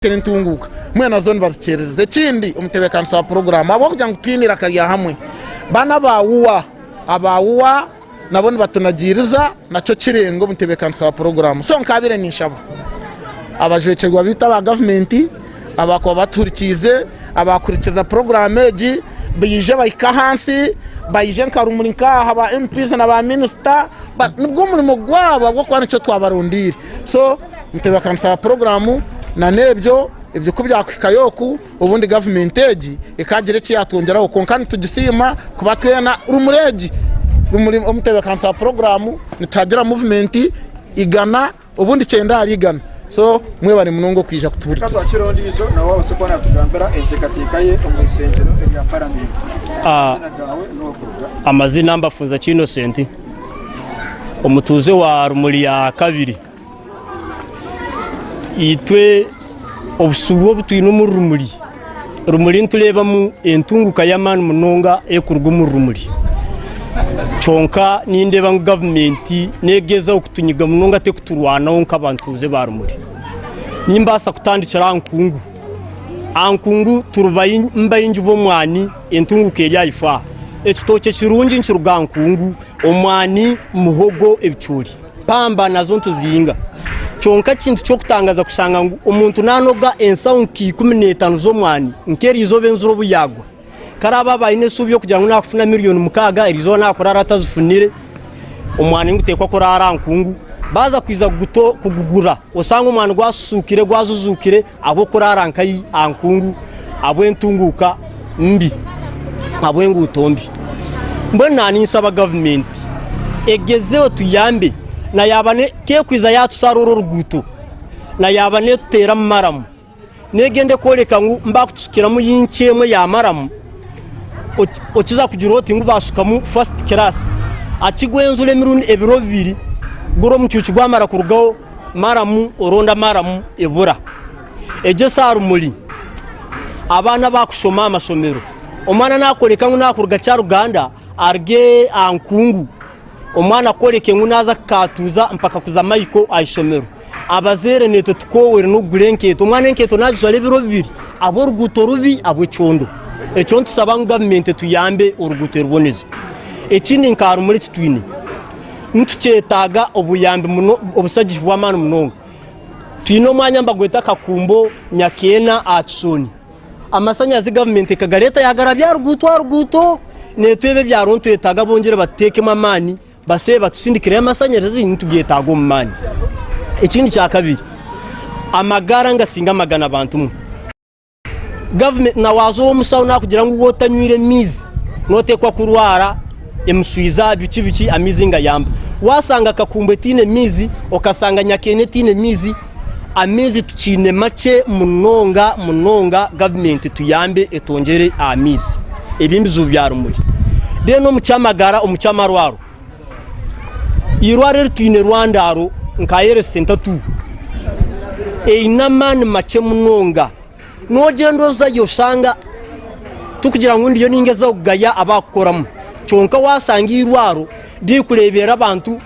Turi ntunguuka mwena zo nibazikyeerereza ekindi omutebeekanisa wa puroguraamu ahabw'okugira ngu twine eiraka rya hamwe baana ba UWA aba UWA nabo nibatunagiiriza nakyo kirenge omutebeekanisa wa puroguraamu so nkaabaire ninshaba abajwekyerwa baitu aba gavumenti abaakuba batuhurikiize abaakuhurikiza puroguraamu egi baije bahike ahansi baije nka rumuri nk'aha ba MPs na ba minisita nigwo murimo gwabo ahabw'okuba nikyo twabarondeire so nitebeekanisa puroguraamu na n'ebyo ebyo ku byakuhikayo oku obundi gavumenti egi ekaagira eki yaatwongyeraho kwonka nitugisiima kuba twena rumuri egi rumuri omu nitebeekanisa ya puroguraamu nituhagira muvumenti igana obundi kyenda ahari igana so mwebare munonga okwija kutuhurikira twakira ondiijo nawe abaase kuba naatugambira enteekateeka ye omu ishengyero erya paramenti Ah. Amazina gaawe n'owokuruga. Amazina mbafunza Kinosenti. omutuuze wa Rumuri ya kabiri. Itwe obusuubu obu twine omuri Rumuri, Rumuri nitureebamu entunguka y'amaani munonga erikuruga omuri Rumuri. Kwonka nindeeba ngu gavumenti neegyezaho kutunyiga munonga terikuturwanaho nk'abatuuze ba Rumuri. Nimbaasa kutandikira aha nkungu. Aha nkungu turi baingi b'omwani. Entunguka eri aha ifaa. Ekitookye kirungi nikiruga nkungu, omwani, muhogo, ebicoori. Pamba nazo nituzihinga. Kyonka ekintu ky'okutangaza kushanga ngu omuntu nanoga ensaho nka ikumi n'etano z'omwani nk'erizooba enjura obu yagwa. Ku araba aba aine esuubi y'okugira ngu nakufuna miriyoni mukaaga erizooba nakurara atazifunire, omwani niguteekwa kuraara aha nkungu. Baza kwiza kugugura oshange omwani gwasusuukire, gwazuzuukire. Ahabw'okuraara nkai aha nkungu, ahabw'entunguuka mbi, ahabw'enguuto mbi. Mbwenu naaninsaba gavumenti egezeho tuyambe na yaaba ne k'ekwiza yaatusara oru oruguuto na yaaba neetuteeramu maramu n'egende kworeka ngu baakutusukiramu inci emwe ya maramu okiza kugira oti ngu baasukamu fasiti kiraasi. Akigwenzura emirundi ebiro bibiri guri omucuucu gwamara kurugaho. Maramu oronda maramu ebura egyo saa rumuri abaana bakushoma aha mashomero omwana nakoreka ngu nakuruga kyaruganda aruge aha nkungu omwana akoreke ngu naza kukatuza mpaka kuza mayiko aha ishomero abazaire netwe tukowere n'okugura enkeeto omwana enkeeto nagijwara ebiro bibiri ahabwa oruguuto rubi ahabwa ekyondo ekyo nitusaba ngu gavumenti etuyambe oruguuto eruboneze ekindi nka rumuri ekitwine Nitukyetaaga obuyambi muno, obusagihi bw'amaani munonga. Twine omwanya nibagweta Kakumbo Nyakeena aha Kisooni. Amasanyarazi gavumenti ekagareeta yagarabya aha ruguuto aha ruguuto, naitwe ebi ebyaro nitwetaaga bongere batuteekemu amaani baseebe batusindikireyo amasanyarazi nitugeetaaga omu maani. Ekindi kya kabiri, amagara ningasinga amagana bantu mu. Gavumenti na waaza ow'omushaho naakugira ngu waaba otanywire maizi nooteekwa kurwara emishwiza biki biki amaizi ngayamba. Waashanga Kakumbu etaine maizi, okashanga Nyakaina etaine maizi, amaizi tukiine makye munonga munonga. Gavumenti tuyambe etwongyere aha maizi. Ebi ebizibu bya rumuri. Reero omu ky'amagara, omu ky'amarwaro, Eirwaro eri twine erwandaaro nka Health Centre tu eine amaani makye munonga. N'ogyenda ozayo oshanga tikugira ngu ndiyo ningezaho kugaya abakukoramu kyonka waashanga eirwaro ririkureeberera abantu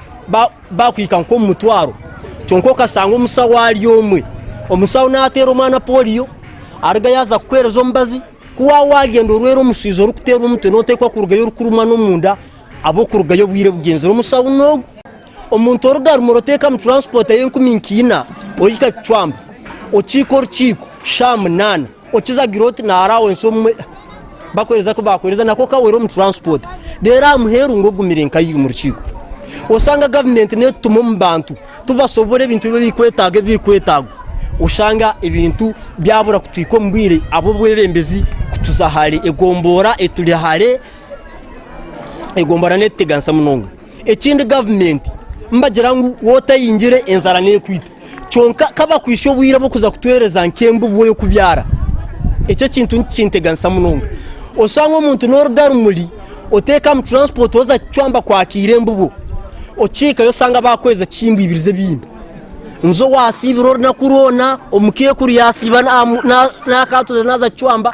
baakuhika nk'omu mutwaro kyonka okashanga omushaho ari omwe. Omushaho naateera omwana pooriyo aruga yaaza kukuheereza omubazi ku waaba waagenda orwera omushaija orikuteerwa omutwe nooteekwa kurugayo orikurumwa n'omunda. Ab'okurugayo obwire bugyenzire omushawuna ogu. Omuntu oruga arumu orotekamu transport ey'enkumi nk'ina ohika Kicwamba okiika orukiiko shaaha munana okiza agira oti na allowance omwe bakuhereza ku bakuhereza nako kawera omu transport rero aha muheru ngu ogumire nkayi omu rukiiko osanga government netutuma omu bantu tubasobora ebintu ebi ebikwetaga ebi bikwetagwa osanga ebintu byabura kutwika omu bwire ab'obwebembezi kutuza hare egombora eturi hare. Egombora netuteganisa munonga ekindi gavumenti nibagira ngu waaba otayingire enjara nekwita kwonka ku bakwitsya obwire bwokuza kutuhereza nk'embubo yokubyara ekyo ekintu nikinteganisa munonga oshanga omuntu noruga rumuri oteeka omu turansipoti waza kucwamba kwakira embubo okihikayo oshanga bakweza ekihimbwibiriza ebindi niho wasiibira orunaku rwona omuka ekuru yasiiba nakatare naza kucwamba.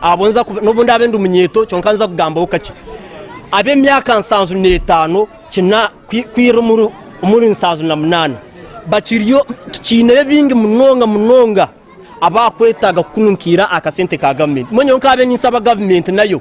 abo nza kuba n'obu ndaabe ndi munyeeto kyonka nza kugambaho kakye ab'emyaka nsanju n'etaano kina kwi- kwira omuri omuri nsanju na munaana bakiriyo tukiineyo bingi munonga munonga abaakwetaaga kukununkiira aha kasente ka gavumenti mbwenu nyowe nkaabe ninsaba gavumenti nayo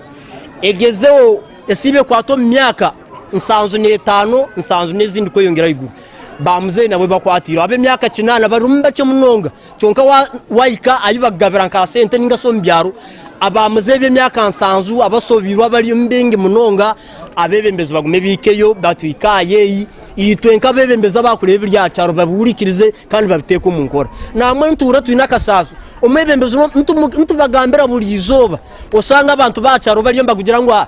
egezeho esiibe ekwate omu myaka nsanju n'etaano nsanju n'ezindi kweyongyera ahaiguru ba muzeeyi nabo bakwatireho ab'emyaka kinaana barimu bakye munonga Kyonka waahika ahi bakugabira nka sente ninga shi omu byaro, abaamuzeeyi b'emyaka nsanju abashobeirwe abari omu bingi munonga, abeebembezi bagume baihikeyo batuhike aha yeeyi, itwe nk'abeebembezi abaakureeba ebiri aha kyaro babihurikirize kandi babiteeke omu nkora. Naamwe nituhurira twine akashaashi, omwebembezi nitubagambira buri izooba, oshanga abantu b'aha kyaro bariyo nibakugira ngu aha,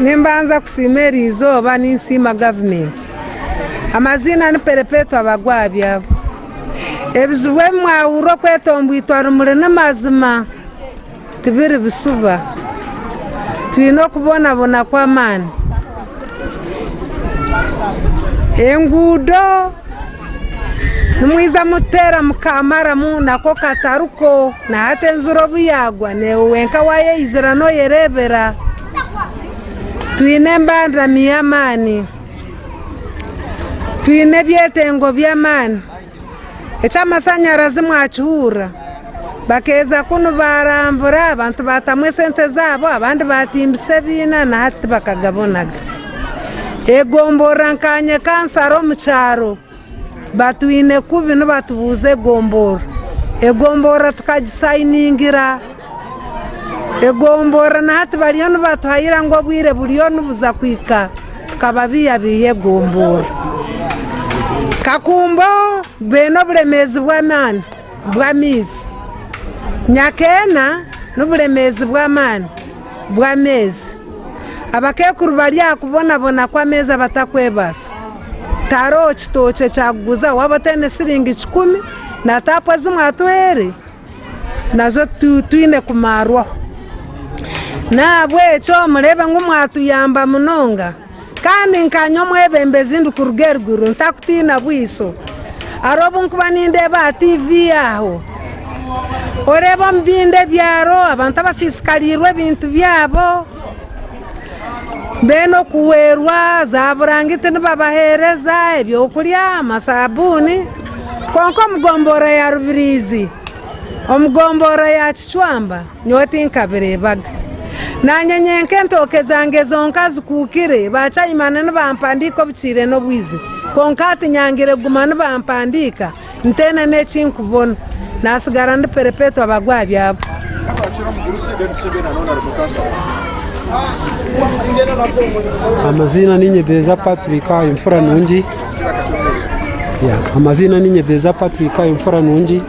Nimbanza kusiima eri izooba ninsiima gavumenti. Amaziina ni Perpetua Bagwa aha byabo. Ebizibu ebi mwahurira okweta ombwitwa rumuri ni mazima tibiri bishuba. Twine okubonabona kw'amaani. Enguudo. Nimwiza mututeera mukaamaramu nako katari ko, na hati enjura obu yaagwa naiwe wenka waayeizira nooyereebera. Twine embandani y'amaani, twine ebyetengo by'amaani, eky'amashanyarazi mwakihurira? Bakeeza kunu baarambura, abantu baatamu esente zaabo, abandi baatimbisa ebiina na hati tibakagabonaga. Egomborora nka Nyekansara omu kyaro batwine kubi nibatubuuza egomborora. Egomborora tukagisayiningira, egomborora na hati bariyo nibatuhayira ngu obwire buriyo nibuza kuhika tukababiihabiiha egomborora. Kakumbo baine oburemeezi bw'amaani. bw'amaizi myaka ena n'oburemeezi bw'amaani bw'ameezi. Abakaikuru bari aha kubonabona kw'ameezi abatakwebaasa. Taaroho kitookye kyakuguza waaba otaine siringi kikumi na taapu ezi mwatwire nazo twine kumaarwaho. N'ahabw'ekyo mureebe ngu mwatuyamba munonga. Kandi nkaanye omwebembezi ndikuruga eriguru ntakutiina bwaiso, ari obu nkuba nindeeba aha tiivi aho, oreeba omu bindo ebyaro abantu abasiisikariirwe ebintu byabo, beene okuhwerwa, zaaburangiti nibabaheereza, ebyokurya, amasaabuuni, kwonka omu gomboora ya Rubiriizi, omu gomboora ya Kicwamba, Nyowe tinkabireebaga. Naanye nyenka entooke zange zonka zikuukire, ba Chaimani nibampandiika obukiire n'obwizi. Kwonka hati nyangire kuguma nibampandiika ntaine n'eki nkubona. Naatsigara ndi perepetwa bagwe aha byabo. Amaziina ni Nyebeza Patrick Imfura Nungi. Amaziina ni Nyebeza Patrick Imfura Nungi.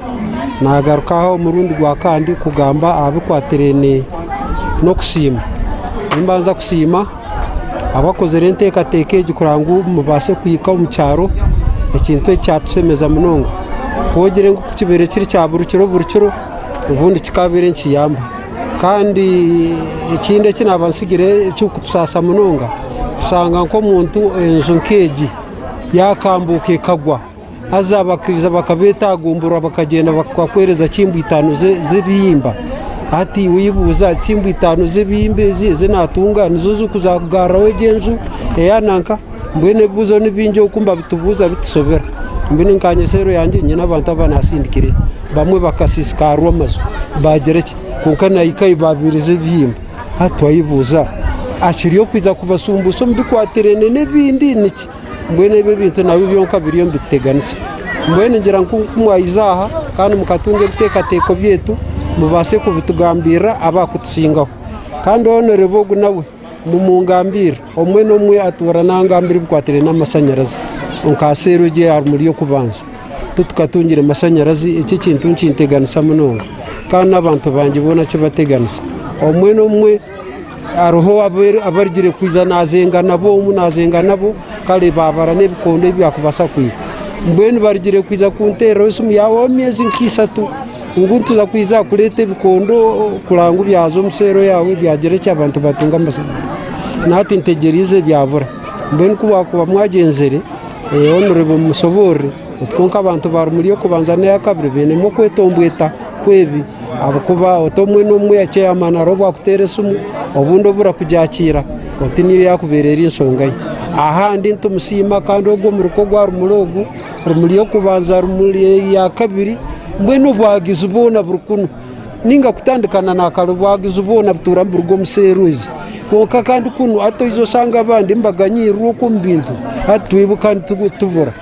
Naagaruka aha omurundi gwa kandi kugamba aha bikwatiraine n'okusiima. Nimbanza kusiima abakozire enteekateeka egi kugira ngu mubaase kuhika omu kyaro, ekintu eki kyatushemeza munonga. Twogire ngu ku kibaire kiri kya buri kiro buri kiro, obundi kikabaire nikiyamba. Kandi ekindi eki naaba ntsigire ekirikutusaasa munonga, kushanga nk'omuntu enju nk'egi yaakambuuka ekagwa, Haza abakaija bakabeetagumburwa bakagyenda bakakuheereza kimba itaano z'ebihimba. Hati iwe oibuuza, kimba itaano z'ebihimba ezi ezi naatunga nizo zirikuza kugaruraho egi enju eya nanka? Mbwenu ebibuuzo ni bingi oku nibabitubuuza bitushobera. Mbwenu nka nyowe seero yangye nyine abantu abu naatsindikire. Bamwe bakasiisikaarwa amaju baagira ki, kwonka naahika ahi baabairize ebihimba. Hati wayebuuza, akiri okwija kubashumbuusha omu bikwatiraine n'ebindi niki? Mbwenu ebyo ebintu nabyo byonka biriyo nibituteganisa. Mbwenu ngira ngu ku mwaija aha kandi mukatunga ebiteekateeko byaitu, mubaase kubitugambirira abaakutusingaho. Kandi owonereba ogu nawe mumungambirire, omwe n'omwe atuura naangamba ebikwatiraine n'amashanyarazi. Kwonka aha seeri egyo eya Rumuri y'okubanza, tu tukatungire mashanyarazi. Eki ekintu nikinteganisa munonga. Kandi n'abantu bangye boona kibateganisa. Omwe n'omwe. Hariho abu arigire kwija naazenga nabo omu, naazenga nabo, kare baabara n'ebikondo ebi baakubaasa kwiha. Mbwenu barigire kwija kunteereraho esimu yaabo ow'emyezi nka ishatu ngu nituza kwija kureeta ebikondo kureba ngu byaza omu seero yaawe byagira ki abantu baatunga amasherani. Nati ntegyereize byabura. Mbwenu ku bwakuba mwagyenzire, honorable mushoboorore, kwonka abantu baari omuri ey'okubanza n'eyakabiri bainemu okwetombweta. kwebi ahabukuba oti omwe nomwe yakyeyama nari obwakutera esimu obundi oburakujakira oti niyo yakubera eri ensonga ye ahandi nitumusima kandi ogwo omuri kwo gwa rumuri ogu rumuri yokubanza rumuri eyakabiri mbwenu obwagizi bwona buri kunu ninga kutandika na nakare obwagizi bwona butura niburuga omu serwezi kwonka kandi kunu hati oija osanga abandi embaga nyirirwe oku omu bintu hati twibuka nitubura.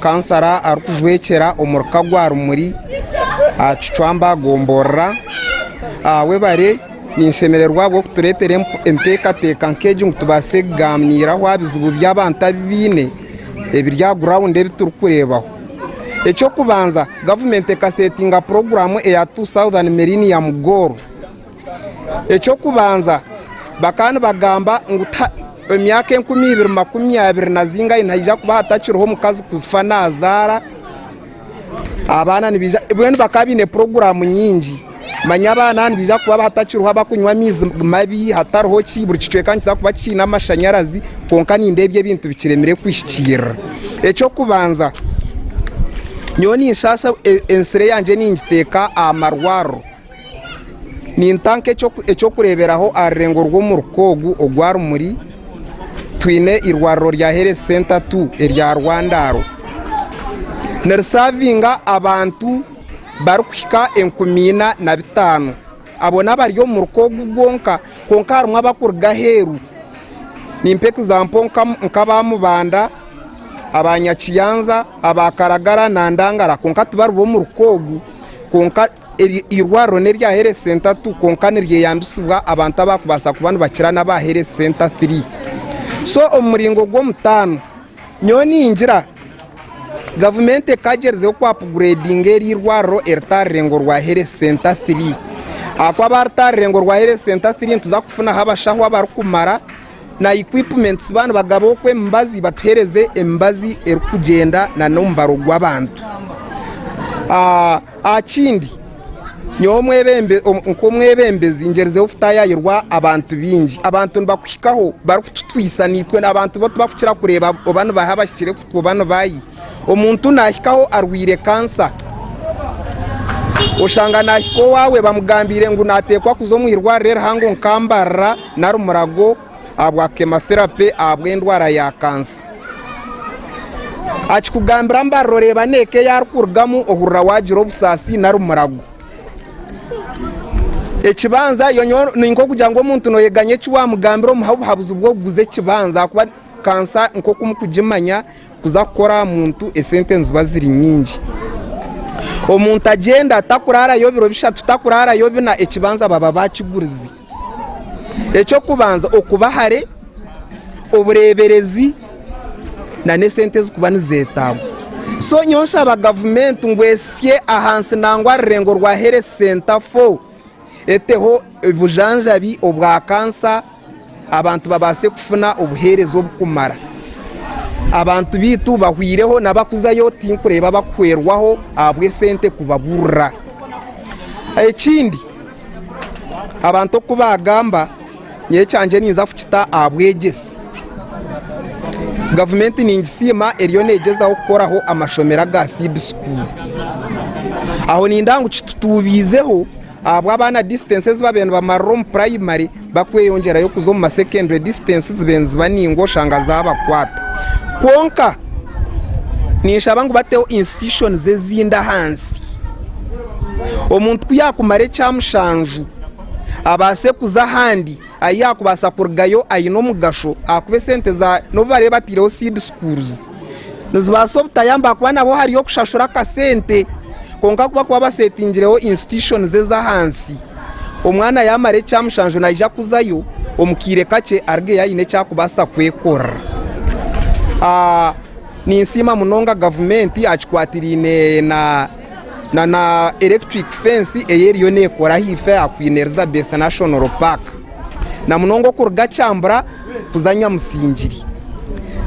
Kansara arikujwekyera omuri ka gwa rumuri aha kicwamba gomborora webare ninshemererwa ahabwokuturetera entekateka nkegi ngu tubase kuganiraho aha bizibu byabantu abu baine ebiri aha ground ebi turi kurebaho ekyokubanza government eka setinga program eya two southern millennium goal. Eky'okubanza, bakaba nibagamba ngu emyaka enkumi ibiri makumi abiri nazinga ahi nihaija kuba hatakiriho omukazi kufa naazaara abaana nibaija, mbwenu bakaba baine puroguraamu nyingi, manya abaana nibaija kuba hatakiriho abarikunywa amaizi mabi, hatariho ki, buri kicweka nikiija kuba kiine amashanyarazi kwonka nindeeba ebyo ebintu bikiremire kuhikiirira. Eky'okubanza, nyowe ninshaasha ensire yangye ningiteeka aha marwariro. Ninta nk'eky'okureeberaho aha rurengo rw'omu ruka ogu ogwa Rumuri, twine eirwariro rya Health Centre tu erya Rwandaaro. Nirisavinga abantu barikuhika enkumi ina na bitaano. Abo n'abari omu ruka ogu gwonka kwonka harimu abarikuruga aheeru. Nimpa egizampo nk'aba Mubanda, aba Nyakiyanza, aba Karagara na Ndangara kwonka tibari b'omu ruka ogu kwonka. Eri irwariro n'erya Health Centre tu kwonka niryeyambisibwa abantu abaakubaasa kuba nibakira n'aba Health Centre three. So omu muringo gw'omutaano nyowe ningira gavumenti ekaagyerezeho kwapugureedinga eri irwariro eritaarire ngu orwa Health Centre three ahakuba baaritaarire ngu orwa Health Centre three nituza kufunaho abashaho abarikumara na equipments ba nibagabaho ku emibazi batuhereze emibazi erikugyenda na nomubaro gwabantu ahakindi nyowe nkomwebembezi ngyerizeho kutayayirwa abantu bingi abantu nibakuhikaho barikututwisa nitwe abantu bokubakukira kureba oba nibaha abahikire kutwe oba nibayi. Omuntu naahikaho arwaire kansa. Oshanga naahika owaawe bamugambiire ngu naateekwa kuza omu irwariro erihango nka Mbarara nari Murago ahabwa chemotherapy ahabw'endwara ya kansa. Akikugambira Mbarara oreeba n'eka ei arikurugamu ohurira waagira obusaasi nari Murago. Ekibanza yo nyowe ni nk'okugira ngu omuntu nooyega ngu eki waamugambira omuha obuhabuzi bw'okuguza ekibanza ahakuba kansa nk'oku mukugimanya Kuza kukora aha muntu esente niziba ziri nyingi. Omuntu agyenda takurarayo biro bishatu takurarayo bina ekibanza baba bakigurize. Eky'okubanza okuba hare, obureberezi na n'esente ezikuba nizetagwa. So nyowe nshaba gavumenti ngu esye ahansi nangwa aha rurengo rwa Health Center fo. eteho obujanjabi obwa kansa abantu babaase kufuna obuheereza oburikumara. Abantu baitu bahwireho n'abarikuzayo tinkureeba barikuhwerwaho ahabw'esente kubaburira. Ekindi abantu oku baagamba Nyowe ekyangye ninza kukita aha bwegyese. Gavumenti ningisiima eriyo neegyezaho kukoraho amashomero aga seed school. Aho nindeeba ngu kitutuubiizeho ahabwa abaana distance ezi baabaire nibamarira omu primary bakweyongyerayo kuza omu ma secondary distance zibe niziba ningwa oshanga zaabakwata. Kwonka ninshaba ngu bateho institutions ezindi ahansi omuntu ku yaakumara ekya mushanju, abaase kuza ahandi ahu yaakubaasa kurugayo aine omugasho ahakuba esente n'obu bariyo bataireho Seed Schools nizibaasa obutayamba ahakuba nabo hariyo okushashura akasente kwonka ku barikuba baseetingireho institutions ez'ahansi omwana yaamara ekya mushanju naija kuzayo omu kaire kakye arugeyo aine eki arikubaasa kwekorera. Ninsiima munonga gavumenti aha kikwatiraine na na na electric fence eye eriyo nekora ahaifo aha Queen Elizabeth National Park na munonga okuruga Kyambura kuza Nyamusingiri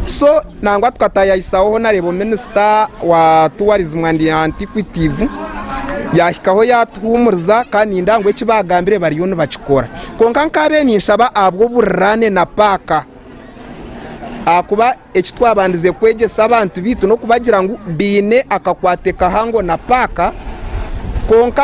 so nangwa tukatayahisaho ho nareeba minister wa tourism and antiquitive yahikaho yatuhumuriza kandi nindeeba ngu eki bagambire bariyo nibakikora kwonka nkabe ninshaba ahabw'oburirane na paaka ahakuba Eki twabandize kwegyesa abantu baitu n'okubagira ngu baine akakwate kahango na paaka, kwonka